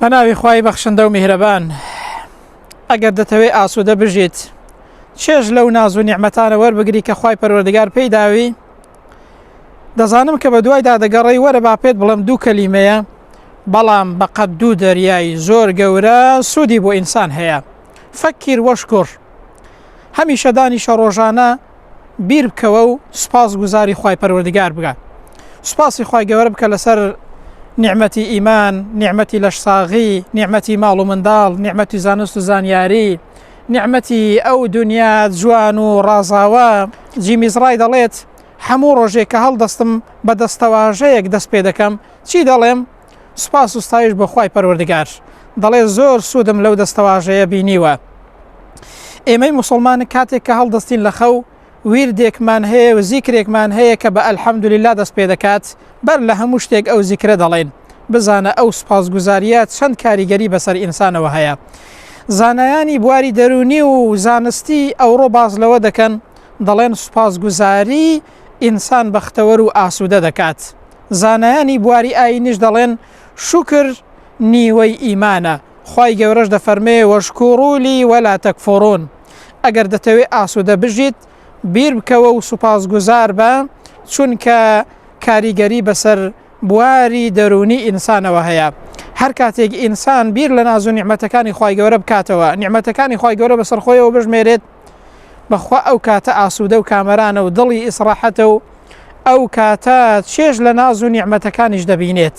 بەناوی خی بەخشندە و میهرەبان ئەگەر دەتەوێت ئاسوودە بژیت چێژ لەو ناز و نیعممەتانە وەربگری کە خی پەروەردگار پێی داوی دەزانم کە بە دوایدا دەگەڕی وەرە با پێت بڵم دوو کەلیمەیە بەڵام بەقەت دوو دەریایی زۆر گەورە سوودی بۆ ئینسان هەیە فەکیر وەشکر هەمیشە دانیشە ڕۆژانە بیر بکەوە و سوپاس گوزاری خی پەروەردگار بگات سوپاسی خی گەوەر بکە لەسەر نیعممەتی ئیمان نیعممەتی لەش ساغی نیعممەتی ماڵ و منداڵ نیعممەتی زانست و زانیاری نیعممەتی ئەو دنیا جوان و ڕازاوە جیمیزڕای دەڵێت هەموو ڕۆژێک کە هەڵدەستم بە دەستەواژەیەک دەست پێ دەکەم چی دەڵێم سوپاس و ستایش بۆ خوای پەروەردگار دەڵێ زۆر سوودم لەو دەستەواژەیە بینیوە ئێمەی موسڵمان کاتێک کە هەڵدەستین لە خەو ویردێکمان هەیە و زیکرێکمان هەیە کە بە ئەلحەمدوللا دەست پێ دەکات بەر لە هەموو شتێک ئەو زیکرە دەڵێن بزانە ئەو سوپاسگوزاریە چەند کاریگەری بەسەر ئینسانەوە هەیە زانایانی بواری دەرونی و زانستی ئەوڕۆ باز لەوە دەکەن دەڵێن سوپاسگوزاری ئینسان بەختەوەر و ئاسوودە دەکات. زانایانی بواری ئایینیش دەڵێن، شوکر نیوەی ئیمانە، خوای گەورەش دەفەرمێ، واشکروا لی ولا تکفرون، ئەگەر دەتەوێ ئاسوودە بژیت، بیر بکەوە و سوپاسگوزار بە، چونکە کاریگەری بەسەر بواری دەروونی ئینسانەوە هەیە. هەر کاتێک ئینسان بیر لە ناز و نیعمەتەکانی خوای گەورە بکاتەوە، نیعمەتەکانی خوای گەورە بەسەر خۆیەوە بژمێرێت، بەخوا ئەو کاتە ئاسوودە و کامەرانە و دڵی ئیسڕاحەتە و ئەو کاتە چێژ لە ناز و نیعمەتەکانیش دەبینێت.